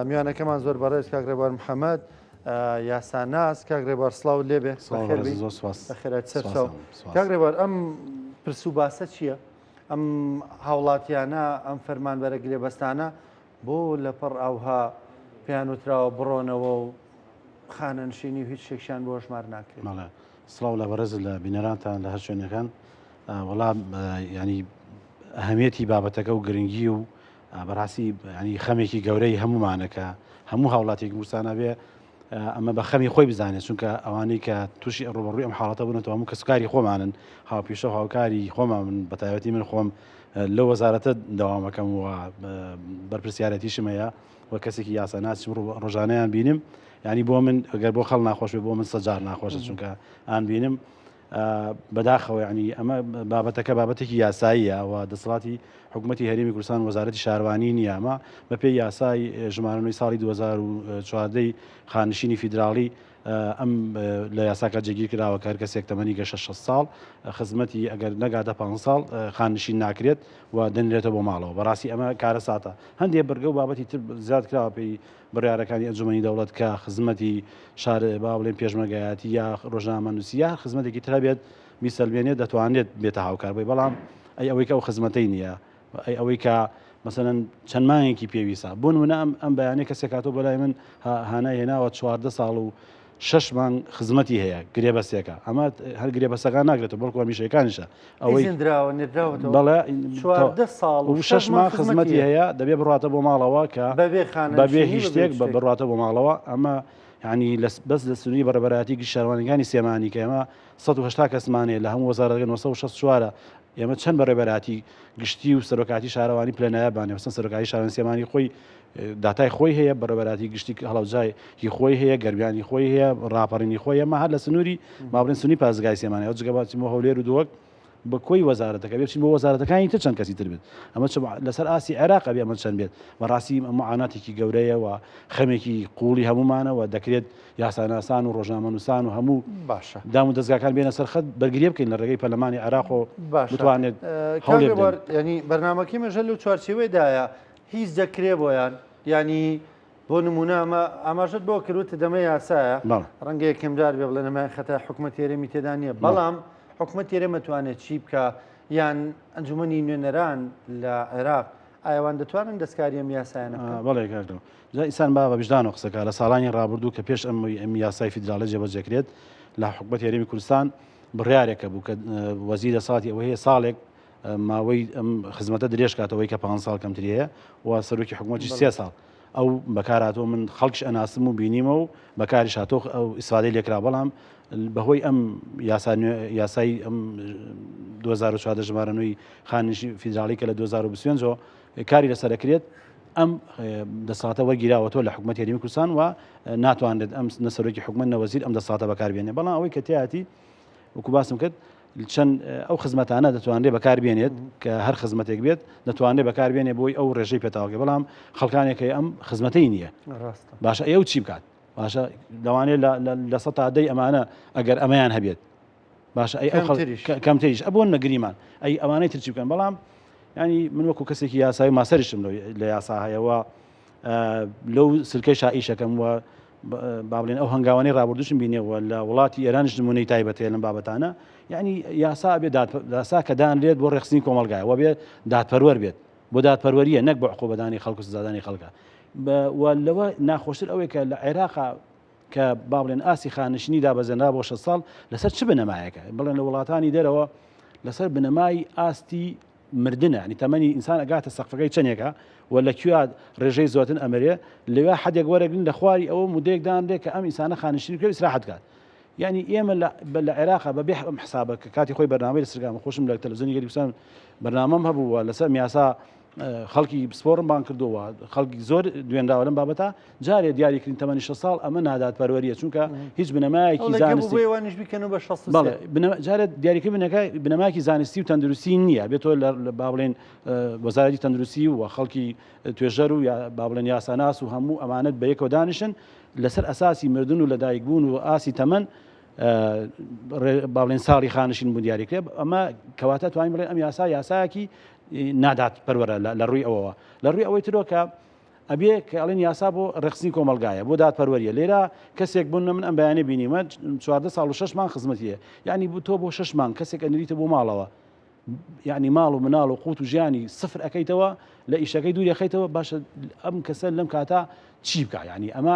میوانەکەمان زۆر بەڕێز کاک ڕێبوار محەمەد یاساناس کاک ڕێبوار سڵاوت لێ بێ سڵاو بەخێر بەڕێز بی زۆر سپاس بەخێرایت سەر سپاس چاو ئەم سپاس کاک ڕێبوار ئەم پرس و باسە چییە؟ ئەم هاوڵاتیانە ئەم فەرمانبەرە گرێبەستانە بۆ لەپەڕ ئاوها پێیان وتراوە بڕۆنەوە و خانەنشینی و هیچ شتێکشیان بۆ هەژمار ناکرێ؟ بەڵێ سڵاو لە بەڕێزت لە بینەرانتان لە هەر شوێنەکان آه، وەڵام آه، یعنی ئەهەمیەتی بابەتەکە و گرنگی و بەڕاستی ینی خەمێکی گەورەی هەمومانە کە هەموو هاوڵاتێکی گورسانە بێ ئەمە بە خەمی خۆی بزانێت چونکە ئەوانەی کە تووشی ڕوبڕوی ئەم حاڵەتە بوونەوە هەموو کەسکاری خۆمانن هاوپیشە و هاوکاری خۆمان من بە تایبەتی من خۆم لە وەزارەتە داوامەکەم و بەرپسیارەتیشم هەیە و کەسێکی یاساناس ڕۆژانیان بینم ینی بۆ من گەر بۆ خەڵ ناخۆش بۆ من سەجار ناخۆشە چونکە ئان بینم بەداخەوە یانی ئەمە بابەتەکە بابەتێکی یاساییە و دەسەڵاتی حکوومەتتی هەرمی کوردستان وەزارەتی شارانی نیامە بەپێ یاسای ژمارەنەوەی ساڵی 2014 خانشینی فیدراڵی ئەم لە یاساکە جێگیر کراوە کار کەسێک تەمەنی گەشە 6 ساڵ خزمەتی ئەگەر نەگاتە پ ساڵ خانشین ناکرێت و دەنرێتە بۆ ماڵەوە بەڕاستی ئەمە کارە ساتە هەندێک بەرگە و بابەتی تر زیاد کراوە پێی بڕیارەکانی ئەنجومەنی دەوڵەت کە خزمەتی شار با بڵێن پێشمەرگایەتی یا ڕۆژنامەنووسی یا هەر خزمەتێکی تر هەبێت بیسەلمێنێت دەتوانێت بێتە هاوکار بۆی بەڵام ئەی ئەوەی کە ئەو خزمەتەی نییە ئەی ئەوەی کە مەسەن چەند مانگێکی پێویستە بۆ نمونە ئەم ئەم بەیانەی کەسێک هاتۆ بەلای من هانای هێناوە چواردە ساڵ و شەش مانگ خزمەتی هەیە گرێبەسێکە ئەمە هەر گرێبەسەکان ناگرێتەوە بەڵکو هەمیشەکانیشە ئەوەی بەڵێ ساڵ و شەش مانگ خزمەتی هەیە دەبێ بڕاتە بۆ ماڵەوە کە بەبێ هیچ شتێک بە بڕاتە بۆ ماڵەوە ئەمە ینی بەس لە سنووری بەڕێبەراتی گشتشارەوانەکانی سێمانی کە ئێمە 1970 کەسمانێ لە هەموو وەزارەکە 1964 ئێمە چەند بەڕێبەراتی گشتی و سەرۆکاتی شارەوانی پلەنایە بانێ مەسەن سەرۆکاتی شارەوانی سێمانی خۆی داتای خۆی هەیە، بەڕێوەبەرایەتی گشتی هەڵەوجای هی خۆی هەیە، گەرمیان هی خۆی هەیە، ڕاپەڕینی خۆی هەیە، ئەمە هەر لە سنووری مابڕین سنووری پارێزگای سلێمانی ئەو جگە با بچین بۆ هەولێر و دهۆک بە کۆی وەزارەتەکە بێ بچین بۆ وەزارەتەکانی تر چەند کەسی تر بێت ئەمە چ لەسەر ئاستی عێراق ئەبێ ئەمە چەند بێت بەڕاستی معاناتێکی گەورەیە و خەمێکی قووڵی هەموومانەوە دەکرێت یاساناسان و ڕۆژنامەنووسان و هەموو باشە دام و دەستگاکان بێنە سەر خەت بەرگری بکەین لە ڕێگەی پەرلەمانی عێراق و باشە بتوانێت کاوێ بوار یعنی بەرنمەکەی مەژە لەو چوارچێوەیەدایە هیچ دەکرێ بۆیان یانی بۆ نمونە ئەمە ئاماژەت بۆ کردوتە دەمە یاسایە ڕەنگە یەکەمدار بێ بڵێ نەمای خەتای حکومە تێرەمی تێدا نییە بەڵام حکومە تێرە مەتوانێت چی بکە یان ئەنجومنی نوێنەران لە عێراق ئایوان دەتوانن دەستکاریەم یاسایانە بەڵێ کاردەوە جا ئیسان با بە بژدان و قسەکە لە ساڵانی ڕابردوو کە پێش ئەم ئەم یاسای فیدراالە جێبەجێکرێت لە حکوبەت هێرمی کوردستان بڕارێکە بوو کە وەزیرە ساڵی ئەوەیە ساڵێک ماوەی ئەم خزمەتە درێژ کاتەوەی کە پ ساڵ کەمتریەیە و سەرۆکی حکوومەتی سێ ساڵ ئەو بەکاراتەوە من خەڵکش ئەناسم و بینیمە و بەکاری شاتۆ ئەو ئیسفادەی لێکرا بەڵام بەهۆی ئەم یاسای ئەم 2014 ژمارەنووی خانیشی فیدراڵی کە لە 2025ەوە کاری لەسەرەکرێت ئەم دەساتە وەرگیراوەەوە لە حکوومەت یاریمی کوردستان و ناتوانێت ئەم نەسەرۆکی حکومت نەوەزیر ئەم دەساتە بەکاربیێنێ بەڵام ئەوەی کە تیاتی وکو باسم کرد چەند ئەو خزمەتانە دەتوانرێت بەکاربێنێت کە هەر خزمەتێک بێت دەتوانرێت بەکاربێنێ بۆی ئەو ڕێژەی پێتاوەکە بەڵام خەڵکانێکی ئەم خزمەتەی نییە باشە ئەو چی بکات باشە لەوانێت لە سە تادەی ئەمانە ئەگەر ئەمەیان هەبێت باشە ئەی کەمتریش ئەبوون نەگریمان ئەی ئەوانەی ترچی بکەن بەڵام ینی من وەکو کەسێکی یاسایی ماسەریشم لە یاسا هەیەەوە لەو سلکەی شائیشەکەم و بابلێن ئەو هەنگاوانی رابردوشم بینێەوە لە وڵاتی ئێرانش نمونەی تایبەتێ لەم بابەتانە یعنی یاسا بێ داسا کە دان لێت بۆ ڕێخستنی کۆمەلگای وە بێ دادپەروەەر بێت بۆ دادپەروەریە نەک بە عقوبەدانی خەڵک سزادانی خەڵکە لەوە ناخۆشتر ئەوەی کە لە عێراقا کە با بڵێن ئاسی خانشنی دابەزێنرا بۆ شە ساڵ لەسەر چ بنەمایەکە بڵێن لە وڵاتانی دەرەوە لەسەر بنەمای ئاستی مردنە یانی تەمەنی ئینسان ئەگاتە سەقفەکەی چەنێکە و لە کوێ ڕێژەی زۆتن ئەمرێ لەوێ حەدێک وەرەگرن لە خواری ئەوە مدەیەک دانرێ کە ئەم ئینسانە خانشتنی کوێ ئیسراحەت کات یعنی ئێمە لە عێراقا بە بێح ئەم حسابە کە کاتی خۆی بەرنامەی لەسرگام خۆشم لە تەلەزۆنی گەریکسان بەرنامەم هەبووە لەسەر میاسا خەڵکی پسپۆرم بان کردووە خەڵکی زۆر دوێنراوە لەم بابەتە جارێ دیاریکردین تەمەنی شە ساڵ ئەمە نادات پەروەریە چونکە هیچ بنەمایەکی جارێت دیاریکە بنەکە بنەماکی زانستی و تەندروستی نییە بێت تۆ لە با بڵێن وەزاری تەندروستی و خەڵکی توێژەر و با بڵێن یاساناس و هەموو ئەمانەت بە یەکەوە دانیشن لەسەر ئەساسی مردن و لەدایک بوون و ئاسی تەمەن باڵێن ساڵی خانشین بوو دیاریکرێ ئەمە کەواتە توانین بڵێن ئەم یاسا یاساکی نادات پەروەرە لە ڕووی ئەوەوە لە ڕووی ئەوەی ترۆکە ئەبێ کە ئەڵێن یاسا بۆ ڕێکخستنی کۆمەڵگایە بۆ دادپەروەریە لێرا کەسێک بن من ئەم بەیانە بینیمە چواردە ساڵ و شش مانگ خزمەتیە یعنی بوو تۆ بۆ شش مانگ کەسێک ئەنریتە بۆ ماڵەوە یعنی ماڵ و مناڵ و قوت و ژیانی سفر ئەەکەیتەوە لە ئیشەکەی دووریەخەیتەوە باشە ئەم کەسە لەم کاتا چی بکە یعنی ئەمە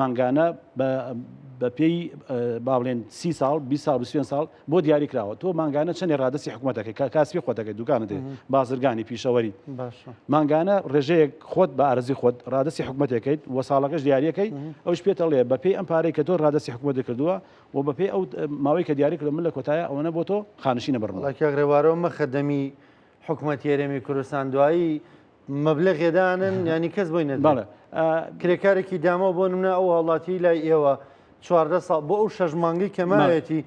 مانگانە بە پێی با بڵێن سی ساڵ بی ساڵ بسێن ساڵ بۆ دیاری کراوە تۆ مانگانە چەندێ ڕادستی حکوومەتەکە کە کاسپی خۆتەکە دوکانە دێ بازرگانی پیشەوەری مانگانە ڕێژەیەک خۆت بە ئارزی خۆت ڕادستی حکوومەتەکەیت و ساڵەکەش دیارەکەی ئەوش پێتەڵێ بە پێی ئەم پارەی کە تۆ ڕادستی حکوومەت کردووە و بە پێی ئەو ماوەی کە دیاری کردو من لە کۆتایە ئەوەنە بۆ تۆ خانشینە بڕڵکە ڕێوارەوە مەخەدەمی حکوومەت یێرێمی کوردستان دوایی مەبلەغێ دانن یانی کەس بۆی نەدەن بەڵێ کرێکارێکی دامەوە بۆ نمونە ئەو هاوڵاتی لای ئێوە چواردە ساڵ بۆ ئەو شەش مانگی کە ماوێتی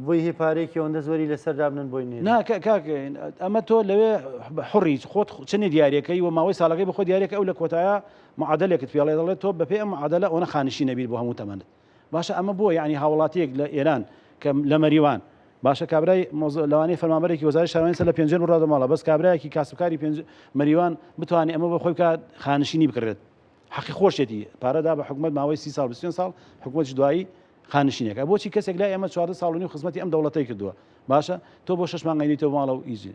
بۆی هی پارێکی ئەوەندە زۆری لەسەر دابنن بۆی نێ ناکە کاکەین ئەمە تۆ لەوێ حڕیت خۆت چنی دیارەکەی و ماوەی ساڵەکەی بخۆ دیارێک ئەو لە کۆتایە معادلێکت پێڵێ دەڵێت تۆ بەپێ ئەم عادلە ئەوە خانشی نەبیر بۆ هەموو تەمەنت باشە ئەمە بۆ یەعنی هاوڵاتیەک لە ئێران کە لە مەریوان باشە کابرای مۆز لەوانەیە فەرمانبەرێکی وەزارەتی شارەوانی سەر لە پێنجوێن بڕادە ماڵە بەس کابرایەکی کاسبکاری پێنج مەریوان بتوانێ ئەمە بۆ خۆی بکا خانشینی بکڕێت حەقی خۆشێتی پارە دا بە حکومەت ماوەی سی ساڵ بیست و پێنج ساڵ حکومەتیش دوایی خانشینێکە بۆچی کەسێک لای ئێمە چواردە ساڵ و نیو خزمەتی ئەم دەوڵەتەی کردووە باشە تۆ بۆ شەش مانگەی نەیتەوە ماڵە و ئیجی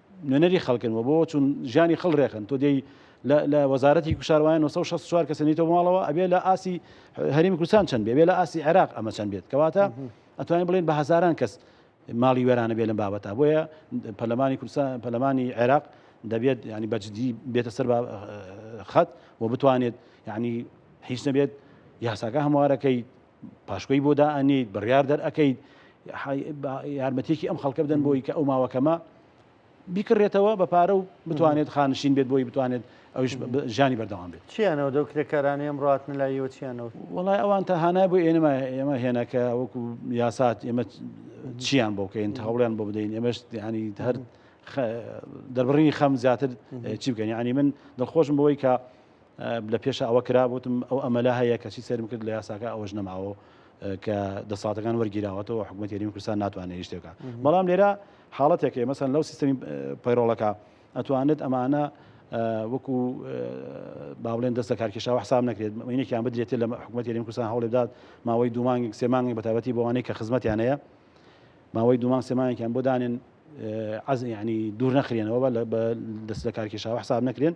نوێنەری خەڵکن و بۆ چون ژیانی خەڵ رێخن تۆ دێی لە وەزارەتی کوشاروایە 964 کەسە نیتە ماڵەوە ئەبێ لە ئاسی هەرمی کوردستان چەند بێ لە ئاسی عێراق ئەمە چەند بێت کەواتە ئەتوانین بڵێن بە هزاران کەس ماڵی وێرانە بێ لەم بابەتە بۆیە پەلمانی کوردستان پەلمانی عێراق دەبێت ینی بەجددی بێتە سەر خەت و بتوانێت ینی هیچ نەبێت یاساکە هەموارەکەی پاشکۆی بۆ دائەنیت بڕیار دەرئەکەیت یارمەتێکی ئەم خەڵکە بدەن بۆی کە ئەو ماوەکەمە بیکڕێتەوە بە پارە و بتوانێت خانشین بێت بۆی بتوانێت ئەوش ژانی بەردەوام بێت چیانەوە دەو کرێکارانی ئەم ڕاتن لایەوە چیانەوە وڵای ئەوان تا هانای بۆ ئێنەما ئێمە هێنەکە وەکو یاسات ئێمە چیان بۆ بکەین هەوڵیان بۆ بدەین ئێمەش ینی هەر دەربڕینی خەم زیاتر چی بکەین ینی من دڵخۆشم بۆی کە لە پێشا ئەوە کرا وتم ئەو ئەمەلە هەیە کەچی سەیرم کرد لە یاساکە ئەوەش نەماوە کە دەساتەکان وەرگیراوەتەوە حکوومەت یاریمی کوردستان ناتوانێت هیچ شتێکە بەڵام لێرە حاڵەتێکێ مەسەن لەو سیستمی پەیرۆڵەکە ئەتوانێت ئەمانە وەکو باڵێن دەستە کارکێشاوە حساب نەکرێت مینێکیان بدرێت لە حکوومەت یاریمی کوردستان هەوڵ بدات ماوەی دومانگێک سێمانگی بەتابەتی بەوانەی کە خزمەتیان هەیە ماوەی دومان سێمانێکیان بۆ دانێن عز ینی دوور نەخرێنەوە بە دەست لە کارکێشاوە حساب نەکرێن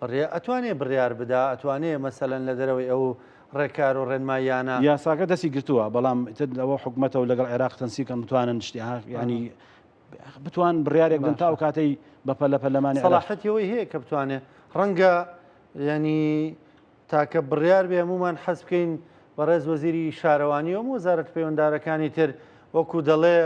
بڕێ ئەتوانێ بڕیار بدا ئەتوانێ مەسەلەن لە دەرەوەی ئەو ڕێکار و ڕێنماییانە. یاساکە دەستی گرتووە بەڵام ئیتر لەوە حکومەتە و لەگەڵ عێراق تەنسیق کەن بتوانن شتی ها یانی بتوان بڕیارێک بدەن تا ئەو کاتەی بە پەلە پەلەمانی عێراق. سەڵاحەتی ئەوەی هەیە کە بتوانێ ڕەنگە یانی تاکە بڕیار بێ هەموومان حەز بکەین بەڕێز وەزیری شارەوانی و هەموو وەزارەتە پەیوەندارەکانی تر وەکوو دەڵێ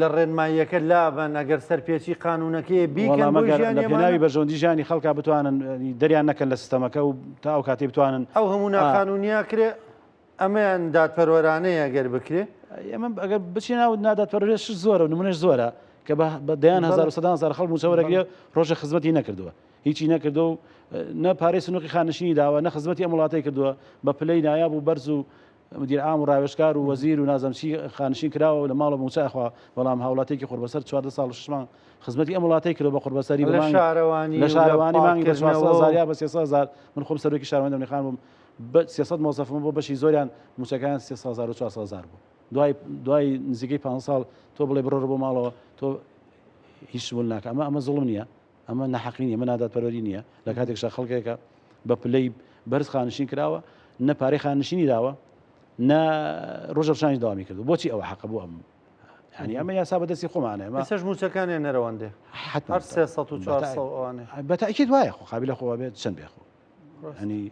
لە ڕێنماییەکە لابەن ئەگەر سەرپێچی قانونەکەی بیکەن بۆ ژیانی ئەمانە. پێناوی بەرژەوەندی ژیانی خەڵکا بتوانن دەریان نەکەن لە سیستەمەکە و تا ئەو کاتەی بتوانن ئەو هەموو ناقانونیا کرێ ئەمەیان دادپەروەرانەیە گەر بکرێ ئێمە ئەگەر بچین ناو نادادپەروەریش زۆرە و نمونەش زۆرە کە بە بە دەیان هەزار و سەدان هەزار خەڵک مووچە وەرەگرێ ڕۆژێ خزمەتی نەکردووە هیچی نەکردو و نە پارەی سنووقی خانشینی داوە نە خزمەتی ئەم وڵاتەی کردووە بە پلەی نایاب و بەرز و مدیر عام و ڕاوێژکار و وەزیر و نازم چی خانشین کراوە و لە ماڵەوە مووچە ئەخوا، بەڵام هاوڵاتیەکی قوربەسەر چواردە ساڵ و شەش مانگ خزمەتی ئەم وڵاتەی کردوە بە قوربەسەری بە مانگ لە شارەوانی مانگی بە چوار سەد هەزار یا بە سێ سەد هەزار من خۆم سەرۆکی شارەوانی دەمنی خان بووم بە سێ سەد مۆزەفم بۆ بەشی زۆریان مووچەکەیان سێ سەد هەزار و چوار سەد هەزار بوو دوای دوای نزیکەی پانزە ساڵ تۆ بڵێ بڕۆرە بۆ ماڵەوە تۆ هیچ شت بۆت ناکە ئەمە ئەمە زوڵم نییە ئەمە نەحەقی نیە، ئەمە نادادپەروەری نیە، لە کاتێکشدا خەڵکێکە بە پلەی بەرز خانشین کراوە، نە پارەی خانشینی داوە، نە ڕۆژە ڕشانی داوامی کردو بۆچی ئەوە حەقە بۆ ئەم ینی ئەمە یاسا بەدەستی خۆمانێ مەسەش موچەکانیان نەرەوەندێ بەتاکیێت وایە خۆ قابل لە خۆوە بێت چەند بێخۆ ینی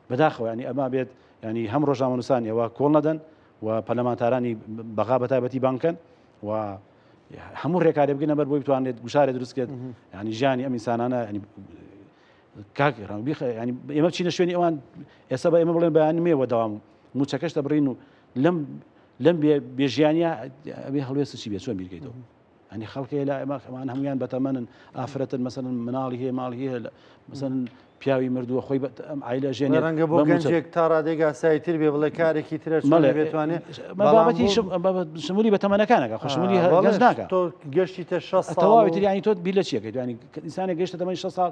بەداخەوە ینی ئەما بێت ینی هەم ڕۆژنامەنووسان ئێوە کۆڵ نەدەن و پەلەمانتارانی بەغا بەتابەتی بانکەن و هەموو ڕێکارێ بگەنە بەر بۆی بتوانێت گوشارێ دروستکرێت ینی ژیانی ئەم ئینسانانە کاکی ڕان ینی ئێمە چینە شوێنی ئەوان ئێستا بە ئێمە بڵێن بەیانی مێوە داوام موچەکەش دەبڕین و لەم لەم بێژیانە ئەبێ هەڵوێست چی بێ چۆن بیرگەیتەوە ئەنی خەڵکی لە ئەمە ئەمان هەمویان بەتەمەن ئافرەتن مەسەن مناڵی هەیە ماڵی هەیە مەسەن پیاوی مردووە خۆی ئایلە ژێنێ ڕەنگە بۆ گەنجێک تا ڕادێک ئاسایی تر بێ بڵێ کارێکی ترە مەڵێ بێتوانێت بابەتی شمولی بە تەمەەکانەکە خشمولی هەڵێش ناکە تۆ گەشتی تە شە تەواوی تریانی تۆ بی لە چیەکە دوانی ئینسانە گەشتە دەمەی شە ساڵ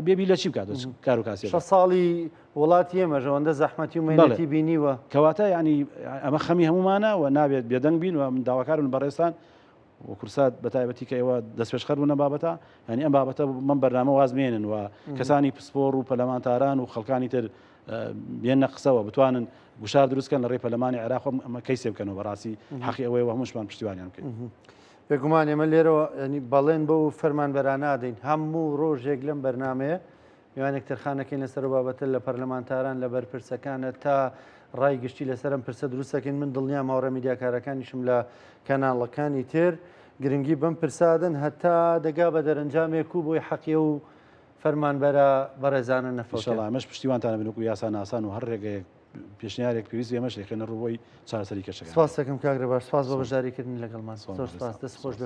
بێبی لە چی بکات کار و کاسی شە ساڵی وڵات ئێمە ژەوەندە زەحمەتی و مەڵەتی بینیوە کەواتە ینی ئەمە خەمی هەمومانە و نابێت بێدەنگ بین و من داواکارون بەڕێستان و کورسات بەتایبەتی کە ئێوە دەستپێشخەر بوون لەم بابەتە یانی ئەم بابەتە بەم بەرنامە واز بێنن و کەسانی پسپۆڕ و پەلەمانتاران و خەڵکانی تر بێنە قسەوە بتوانن گوشار دروستکەن لە ڕێ پەلەمانی عێراق ئەمە کەی سێ بکەنەوە بەڕاستی حەقی ئەوەیە هەمووشمان پشتیوانیان بکەین. بێگومان ئێمە لێرەوە ینی بەڵێن بەو فەرمانبەرانە دەین هەموو ڕۆژێک لەم بەرنمەیە میوانێک تەرخان نەکەین لەسەر ئەو بابەتە لە پەرلەمانتاران لە بەرپرسەکانە تا ڕای گشتی لەسەر ئەم پرسە دروست دەکەین من دڵنیام هاوڕێ میدیاکارەکانیشم لە کەناڵەکانی تر گرنگی بەم پرسادن هەتا دەگا بە دەرەنجامێک و بۆی حەقیە و فەرمانبەرە بەڕێزانە نەفەوتە ئیشەڵا ئەمەش پشتیوانتانە بنوک و یاساناسان و هەر ڕێگەیەک پێشنیارێک پێویست ئێمەش دەکەنە ڕووی چارەسەری کەشەکە سپاس دەکەم کاک ڕێباش سپاس بۆ بەشداریکردنی لەگەڵمان زۆر سپاس دەست خۆش بێ